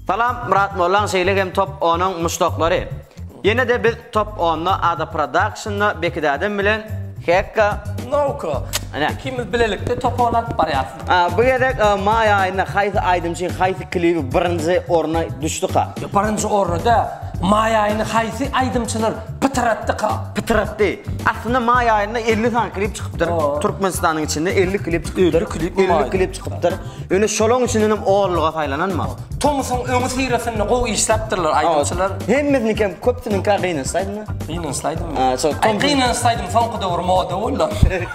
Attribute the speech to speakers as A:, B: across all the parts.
A: Salam Murat Mollan şeýle hem top 10-yň muşdaklary. Ýene de biz top 10-da Ada Production-da Bekidädem bilen Hekka Nowko. Ana. Ikimiz bilelikde top 10 alyp barýarys. Bu gezek maý aýynda haýsy aýdymçy haýsy klibi birinji orna düşdüka? Birinji orny däl, maý aýyny haýsy aýdymçylar pytratdyka? Pytratdy. Aslynda maý aýynda elli sany klip çykypdyr. Türkmenistanyň içinde elli klip çykypdyr. Elli klip mi maý? Elli klip çykypdyr. Ýöne şolaň içinden hem onluga saýlananma. Tomusyň öňüsyrasynda gowy işläpdirler aýdymçylar. Hemmesiniki hem köpüsiniňka gynansaýdyňa. Gynansaýdym. Gynansaýdym soňky döwür moda boldy.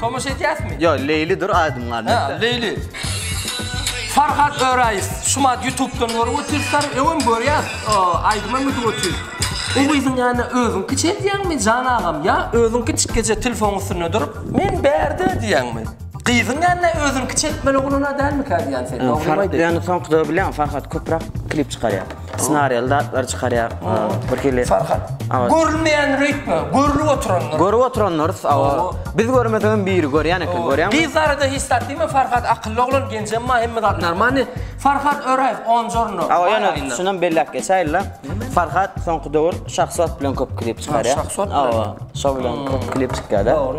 A: Tomaşa etýäsmi? Ýok, Leýlidir aýdym galiba. Hä, Leýli. Farhat Öraýew, Şumat YouTube-dan görüp otyrsar, öňem görýäs, aýdymam ötüp otyr. O gyzyň ýanyna özüňki çeldýäňmi, jan agam, ýa özüňki çykgyja telefonyň üstünde durup, men bärde diýýäňmi? Gyzyň ýanyna özüňki çekmeli oglan-a dälmikä diýýän sen, dogrymy aýdaý? Ýöne soňky zawy bilýäňmi, Farhat köpräk klip çykarýar. Snariýaly zatlar çykarýar. Bir hili Farhat. Görünmeýän rütbe, görlüp oturanlar. Görüp oturanlar, awa. Biz görmesem biri görýän eken, görýäňmi? Biz zarada hiç zat diýme, Farhat akylly oglan, genjem ma hemme zat normalny. Farhat Öraýew, onjorno. Awa, ýöne şunam belläp geçäýeli. Farhat soňky döwür Şahsot bilen köp klip çykarýar. Şahsot bilen. Awa, şo bilen köp klip çykýar-da. Dogry.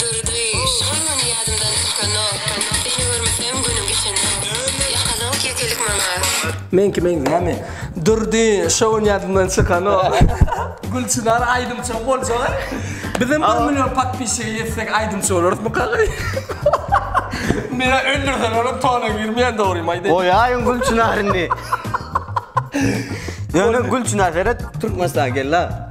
A: Durdy, şol gün ýadymdan çykanok, Seni görmesem günüm geçenok, Ýakalyk, ýekelik maňa. Men kim eý näme? Durdy, şo gün ýadymdan çykanok. Gülçynar aýdymçym boljaga. Bizem bir million podpisçige ýetsek aýdymçy bolarysmyka gaý? Meni öldürselerem tona girmeýän dogrymy aýdaýyn. Goýaýyň Gülçynary indi. Ýöne Gülçynar seret Türkmenistana geldi ha.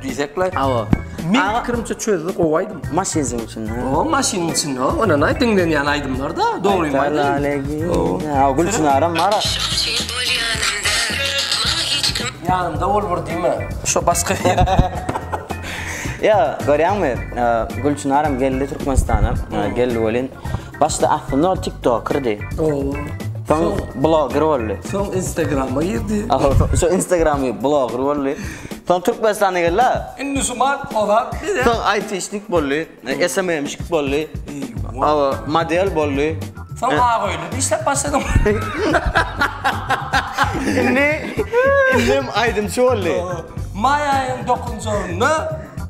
A: Diýsek laý. Hawa. Men pikirimçe çözdi gowy aýdym. Maşynyň içinde. O maşynyň içinde o. Ondan aý diňlenýän aýdymlar da. Dogry mi aýdym? Hawa Gülçinaram bar. Ýanymda bol bir diýme. Şo başga. Ýa görýäňmi Gülçinaram geldi Türkmenistana. Geldi welin. Başda aslynda ol tiktokerdi. Ooo. Soň bloger boldy. Soň Instagrama girdi. Soň Instagramy bloger boldy. Soň Türkmenistana geldi. Indi şu mal ozap gider. Soň aýtişnik boldy. SMM-şik boldy. Awa, model boldy. Soň Agoýda işläp başlady. Indi, indem aýdymçy boldy. Maýaýyň dokunjagynda.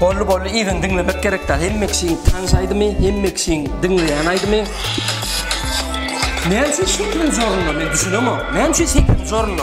A: Bolly bolly yzyny diňlemek gerek dal hemme kişiň tans aýdymy hemme kişiň diňleýän aýdymy Näme üçin şekiliň zorunda men düşünemok näme üçin şekiliň zorunda.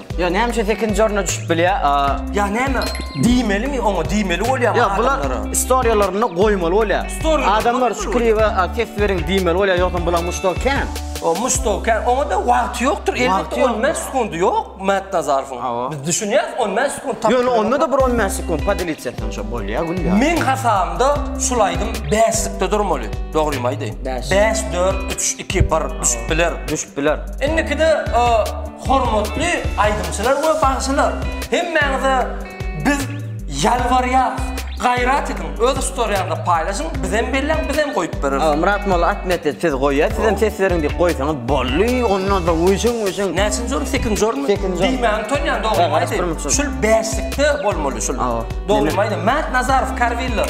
A: Ýa näme üçin second jorna düşüp bilýä? Ýa näme? Diýmelimi oňa? Diýmeli bolýa bu adamlara. Ýa bular istoriýalarynda goýmaly bolýa. Adamlar şu kliba ses beriň diýmeli bolýa ýogsam bulaň muşdagy kän. O muşdagy kän. Oňa da wagty ýokdur. Elbetde 10 bäş sekundi ýok Mätnazarowyň. Biz düşünýäris 10 bäş sekundi tapyp. Ýöne onda da bir 10 bäş sekundi podelitse etseň şo bolýa gülýa. Meň hasabymda şul aýdym bäşlikde durmaly. Dogrymy aýdaýyn. Bäş. Bäş, dört, üç, iki, bir düşüp biler. Düşüp biler. Indikide Hormatly aýdymçylar we bagşylar! Hemmäňize biz ýalbarýarys, gaýrat ediň, öz istoriýaňyzda paýlaşyň, bizem belläň, bizem goýup bereris. Myrat molla atmedi siz goýa sizem ses beriň diýip goýsaňyz boldy onnoda wüjüň wüjüň. Näçinji orun sekinji orunmy? Sekinji orun. Diýmäni utanýan dogrymy aýdaýyn. Şul bäşlikde bolmaly şul. Dogrymy aýdaýyn Mätnazarow Karwiller.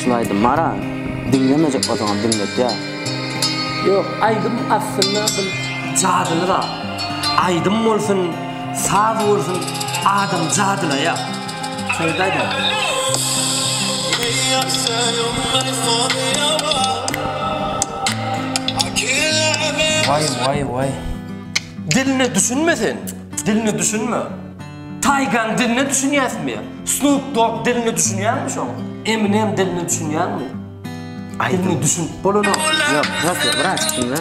A: Şul aýdym bara diňlemejek bolsaňam diňletýär. Ýok aýdym aslynda bir jadyly zat. Aýdym bolsun, saz bolsun adam jadylaýar. Şeýdip aýdýar. Waý waý waý. Diline düşünme sen. Diline düşünme. Taygan diline düşünýäsmi ya? Snoop Dogg diline düşünýäňmi şoň? Eminem diline düşünýäňmi? Diline düşün. Bolana. Yok, bırak ya, bırak şimdi.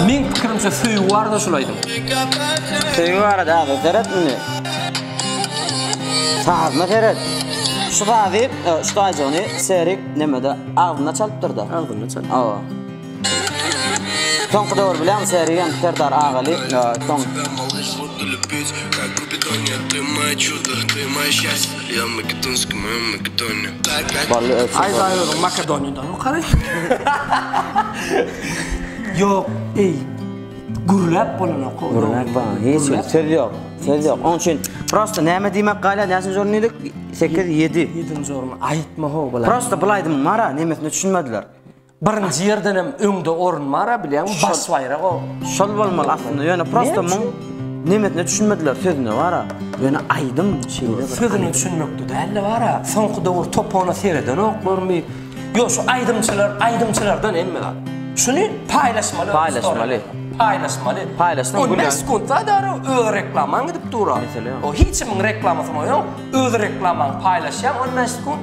A: Men pikirimçe söýgi barada şul aýdym. Söýgi barada abi, seret mini. Sazma seret. Şu sazy, şu sazy onu Serik nemede ağzına çalıptır da. Ağzına çalıp. Awa. Soňky döwür bilen Sergen Serdar agaly soň Bally ösüp Aý baý özüň Makedoniýadan okaly. Ýok eý gürläp bolanok o. Gürläp bolanok hiç bir söz ýok söz ýok oň üçin prosta näme diýmek galýar näçenji orun diýdik sekiz ýedi. Ýedinji orun aýtma ho bulaý. Prosta bulaý diýmek mara nemesine düşünmediler. Birinji ýerdenem öňde orun bar-a bilýäňmi, baş baýrak o. Şol bolmaly aslynda, ýöne prosta muň nemesine düşünmediler, sözüne bar-a. Ýöne aýdym şeýle bir. Sözüne düşünmekde däl-de bar-a, soňky döwür topana seredenoklarmy, ýok şu aýdymçylar, aýdymçylardan hemme zat. Şuny paýlaşmaly. Paýlaşmaly. Paýlaşmaly. Paýlaşsaň gülän. On bäş sekunt zat ara öz reklamaň gidip dur-a. Mesele ýok. O hiç kimiň reklamasyň ýok, öz reklamaňy paýlaşýaň on bäş sekunt.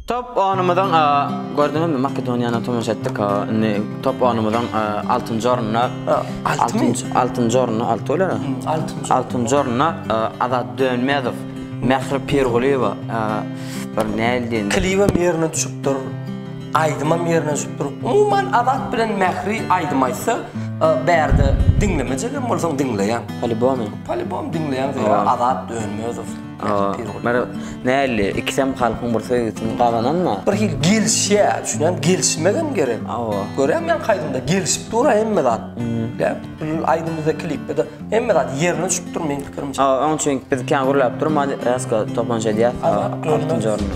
A: Top onumyzyň gördüňizmi Makedoniýana tomaşa etdik indi top onumyzyň altynjy ornuna altynjy altynjy ornuna alty bolar altynjy altynjy ornuna Azat Dönmezow Mähri Pirgulyýewa bir näl diýen klibem ýerine düşüpdir aýdymam ýerine düşüpdir umuman Azat bilen Mähri aýdym aýtsa bärde diňlemejegem bolsaň diňleýäň polibom polibom diňleýäň Azat Dönmezow Näli, ikisem halkyň bir söýgüsini gazananma. Bir hili gelişýä, düşünýän, gelişmegem gerek. Görýän men kaýdymda gelişip dur hemme zat. Ýa, indi aýdymda, klipde hemme zat ýerine düşüp dur meň pikirimçe. Hawa, onuň üçin biz kän gürläp durmady, Rasko topunja diýýär. Altynjy orunda.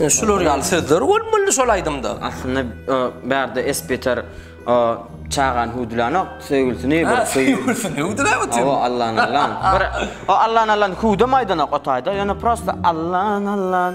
A: Ýöne şular ýaly sözler bolmalydy şol aýdymda. Aslynda bärde esbeter çagany hüwdülänok, söýgülisini bir söýgülisini hüwdüläp otyr. Hawa, Allan Allan. Bir Allan Allan hüwdem aýdanok o taýda, ýöne prosta Allan Allan.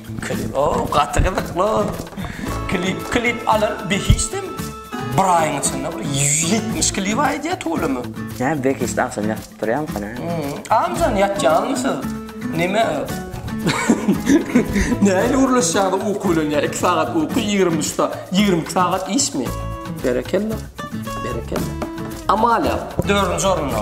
A: Klip o gaty gyzykly. Klip klip alar behişdim. Bir aýyň içinde bir 170 klip aýdýa tolümi. Nä behişdi agşam ýatyp turýamyka nä. Amjan ýatýaňmy siz? Neme? Nähili gürleşýäňiz uky bilen ýa iki sagat uky ýigrimi üç sa ýigrimi iki sagat işmi? Berekella berekella. Amalia dördünji orunda.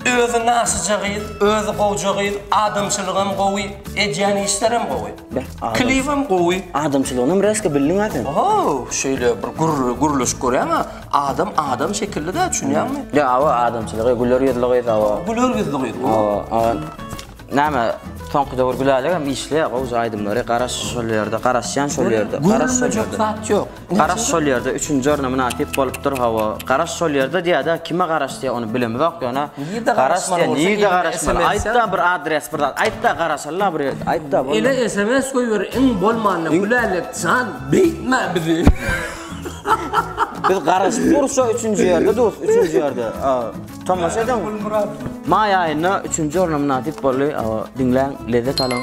A: Özi nasyja gyz, özi gowja gyz, adamçylygam gowy, edýän işlerem gowy. Beh, adam. Klibem gowy. Adamçylygynam resko bildiň-ä sen. Ohow, şeýle bir gürri, gürleşik görýäň-ä, adam adam şekilli-dä, düşünýäňmi? Ýa, hawa, adamçylygy, güler ýüzli gyz, hawa. Güler ýüzli gyz bu. Hawa, hawa. Näme, soňky döwür Gülälekgem işleýär, gowja aýdymlary, garaş şol ýerde, garaşýan şol ýerde, garaş şol ýerde. Gürlemejek zat ýok. Garaş şol ýerde üçünji orna mynasyp bolupdyr hawa. Garaş şol ýerde diýýädä kime garaş diýýä ony bilemizok ýöne. Nirde garaş diýýä nirde garaş bolýa aýtda bir adres bir zat aýtda garaşalyda bir ýerde aýtda bolýa. Ele sms goýber iň bolmanda Gülälek jan beýtme bizi. Biz garaşyp durus şo üçünji ýerde durus üçünji ýerde. Tomaşa ediň. Maý aýynda üçünji orna mynasyp boldy diňläň lezzet alyň.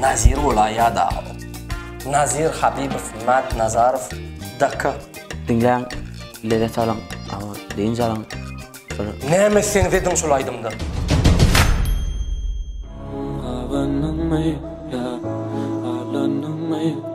A: Nazir bola ya da Nazir Habibow Mat Nazarow Daka. Diňläň, lezzet alyň, aman, dynç alyň. Bir Näme sen zediň şul aýdymda? Abandyňmy, ýa, aldandyňmy?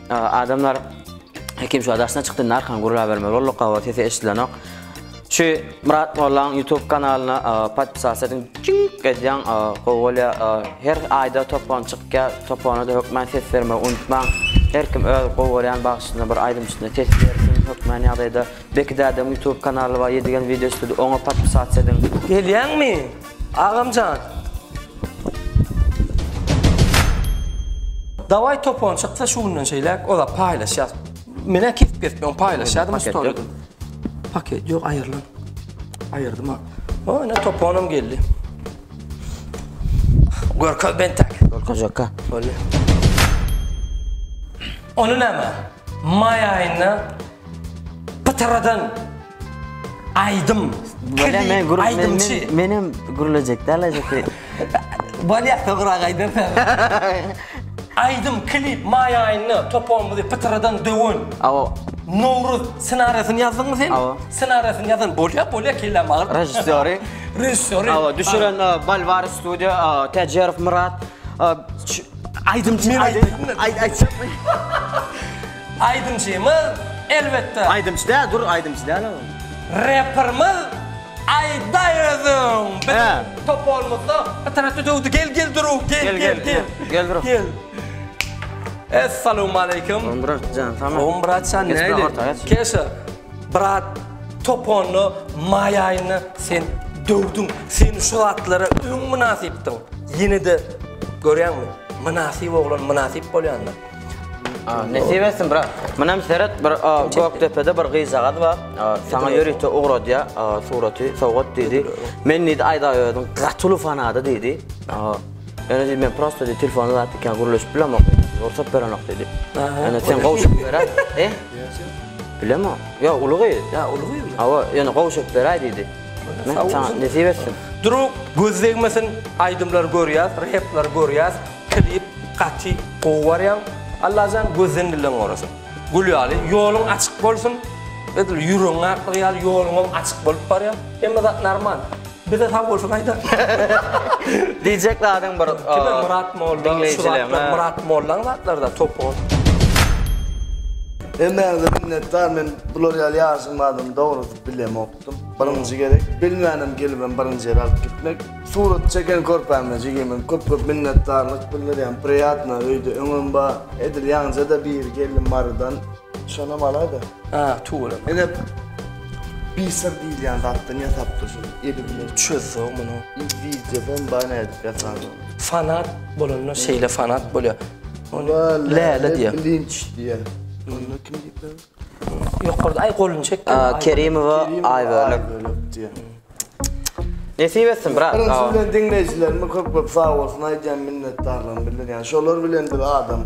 A: Adamlar Hekim şu daşyna çykdy, narkan gurlabermeli bolduk, gawa sesi eşidilenok. Şu Murat Mollaň YouTube kanalyna podpisas ediň. Çink edýän gowy bolýar. Her aýda topon çykýar. Topona da hökmän ses bermegi unutmaň. Her kim öz gowy görýän bagşysyna bir aýdymçysyna ses bersin. Hökmän ýagdaýda Beki dädäň YouTube kanaly bar, Ýedigen video studi, oňa podpisas ediň. Gelýäňmi? Agamjan. Daway topon çyksa şu günden şeýläk ola paýlaşýas. Menä kesip kesip on paýlaşýadym storyda. Paket ýok aýyrlan. Aýyrdym ha. O ene toponum geldi. Görkez ben tak. Görkez ýokka. Bolýar. Onu näme? May aýynda Pytyradan aýdym. Bölä men gürle aýdymçy. Men hem gürlejek däl ajapy. Bolýa sogra gaýdan. Aýdym klip maý aýynda topamyzy pytyradan döwen. Awa. Nowruz ssenariýasyny ýazdyňmy sen? Awa. Ssenariýasyny ýazan bolýa, bolýa kelläm agyr. Režissýory. Režissýory. Awa, düşüren Balvar studio, Täjerow Myrat. Aýdymçy. Aýt aýt. Aýdymçymyz, elbetde. Aýdymçy däl, dur, aýdymçy däl-ä ol. Reperimiz Aýdaý özüň. Biziň topolymyzda bir tarapda döwdi. Gel, gel durup, gel, gel, gel. Gel durup. Gel. Essalawmaleýkim. Salam brat jan, salam. Salam brat jan, nähili? Keşe, brat, toponda maý aýynda sen döwdüň. Sen şu zatlara öň mynasypdyň. Ýene-de görýäňmi? Mynasyp oglan mynasyp bolýandyr. Nesip etsin brat. Munem seret bir Gökdepede bir gyzjagaz bar. Saňa ýörite ugradýa suraty sowgat diýdi. Men diýdi Aýdaöziň gaty uly fanady diýdi. Ýöne diýdi men prosta diýdi telefony zat ikän gürleşip bilemok. Rugsat berenok diýdi. Ýöne sen gowşup beräý. He? Bilemok. Ýa uly gyz. Ýa uly gyz. Hawa, ýöne gowşup beräý diýdi. Saňa nesip etsin. Duruk göz degmesin, aýdymlary görýäs, replary görýäs. Klip gaty gowy barýaň Allajan gözden dilden gorasyn Gül ýaly ýoluň açyk bolsun Edil ýüregiň aklygy ýaly ýoluňam açyk bolup barýar Hemme zat normal Bize sag bolsun aýda. Diýjek zadyň bir Kime Myrat Molla şu zatlar Myrat Mollaň zatlarda topuň. Hemmäňize minnetdar men bular ýaly ýaşyň bardygyny dogrusy bilemok. Birinji gezek bilmänem gelibem birinji ýere alyp gitmek. Surat çeken körpäme jigime köp köp minnetdarlyk bildirýän priýatno öýde öňem bar edil ýaňjada biri geldi marydan şonam alada. Hä tüweleme ine bisir diýilýän zatdan ýasapdyr şuny eli bilen çözse muny wideodam bar nädip ýasanyny. Fanat bolanda şeýle fanat bolýar. Ony Läle diýýär. Bilinç diýýär. Onda kim diýipler? Ýokarda aý goluny çek. Kerimowa Aýbölek. Nesip etsin brat. Birinji bilen diňleýjilerime köp köp sag bolsun aýdýan minnetdarlygymy bildirýän. Şolar bilen bir adam.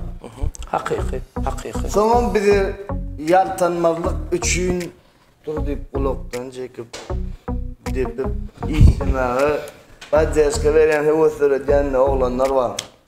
A: Hakyky, hakyky. Soňam bizi ýaltanmazlyk üçin dur diýip gulakdan çekip depip işlemäge poddeşka berýän höwes döredýän oglanlar bar.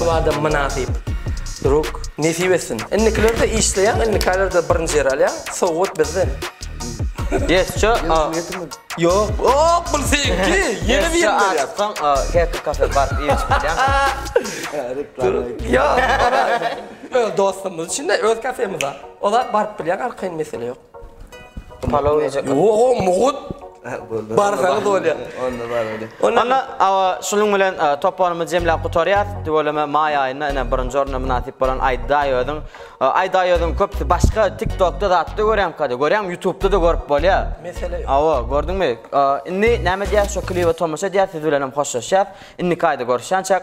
A: Bu adam mynasyp. Druk, nesip etsin. Indikilerde işleýän, indikilerde birinji ýer alýan. Sowgat bizden. Ýesçe, a. Ýok, ok, bu seňki. Ýene bir ýere berýär. Sen Hacker Cafe baryp iýip bilýäňmi? Ýok. Öz dostumyz üçin-de, öz kafemizde. Olar baryp bilýär, arkaýyn mesele ýok. Palaw ýejek. Oho, mugut. Barsaňyz bolýar. Onda bar öýdýä. Onda awa şunuň bilen toparymyzy jemläp gutarýas. Tüweleme maý aýynda ine birinji orna mynasyp bolan Aýdaý özüň. Aýdaý özüň köp başga TikTokda zatda görýän kada. Görýäňmi Ýutubda-da görüp bolýar. Mesele ýok. Awa, gördiňmi? Indi näme diýýäs şo klibe tomaşa diýýäs siz bilenem hoşlaşýas. Indiki aýda görüşýänçäk.